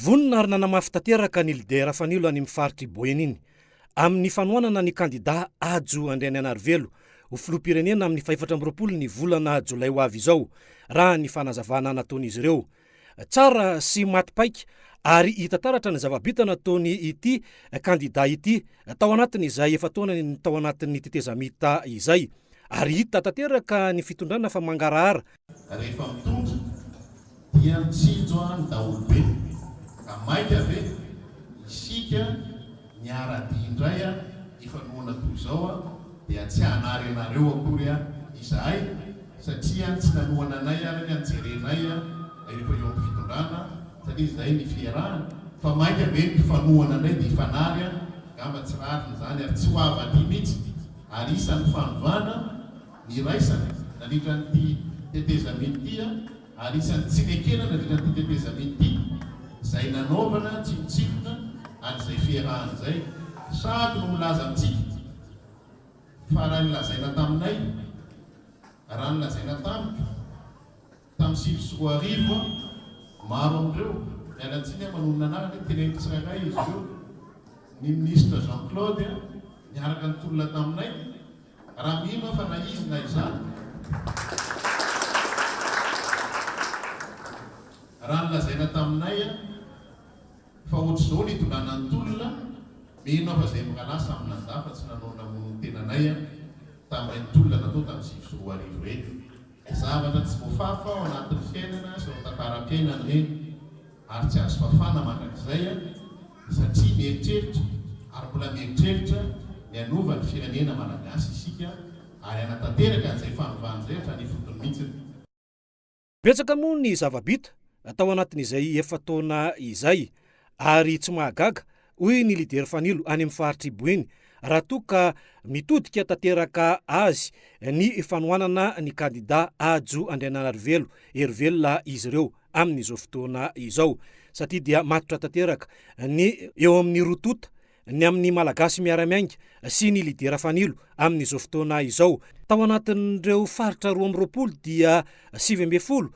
Vonona ary nanamafy tanteraka ny lidera Fanilo any amin'ny faritr'i Boeny iny, amin'ny fanohanana ny kandidà Hajo Andrianaianarivelo ho filoham-pirenena amin'ny fahefatra amby roapolo ny volana jolay ho avy izao, raha ny fanazavana nataon'izy ireo. Tsara sy maty paika ary hita taratra ny zava-bita nataony ity kandidà ity tao anatin'izay efa-taonany tao anatin'ny tetezamita izay, ary hita tanteraka ny fitondrana fa mangarahara. Rehefa mitondra dia mitsinjo ahy ny daholobe ka maika ve isika miara-dia indray a! hifanohana toy izao a! dia tsy hanary anareo akory a! izahay satria tsy nanohana anay ary ny nijerenay a! rehefa eo amin'ny fitondrana satria izay ny fiarahana fa maika ve ny mpifanohana indray dia hifanary a! angamba tsy rariny izany ary tsy ho avy aty mihitsy ary isan'ny fanovana niraisana nandritra an'ity tetezamita ity ary isan'ny tsy nekena nandritra an'ity tetezamita ity izay nanaovana tsinontsinona an'izay fiarahana izay sady no milaza amintsika fa raha ny lazaina taminay raha ny lazaina tamiko Tamin'ny sivy sy roa arivo, maro amin'ireo, miala tsiny aho manonona anarana e, teneniko tsirairay izy ireo, ny minisitra Jean Claude niaraka nitolona taminay, raha mino aho fa na izy na izaho, raha nolazaina taminay fa ohatr'izao ny itondràna ny tolona, mino aho fa izay mirahalahy samy nandà fa tsy nanao ny namonoan'ny tenanay tamin'ireny tolona natao tamin'ny sivy sy roa arivo ireny. Zavatra tsy voafafa ao anatin'ny fiainana sy ao an-tantaram-piainana ireny ary tsy azo fafana mandrakizay satria mieritreritra ary mbola mieritreritra ny hanova ny firenena malagasy isika ary hanatanteraka an'izay fanovana izay hatrany ifotony mihitsy. Betsaka moa ny zava-bita tao anatin'izay efa-taona izay ary tsy mahagaga hoy ny lidera Fanilo any amin'ny faritr'i Boeny, raha toa ka mitodika tanteraka azy ny fanohanana ny kandidà Hajo Andrianarivelo, hery velona izy ireo amin'izao fotoana izao satria dia matotra tanteraka ny eo amin'ny roa tonta ny amin'ny Malagasy miara-miainga sy ny lidera Fanilo amin'izao fotoana izao. Tao anatin'ireo faritra roa amby roapolo dia sivy ambin'ny folo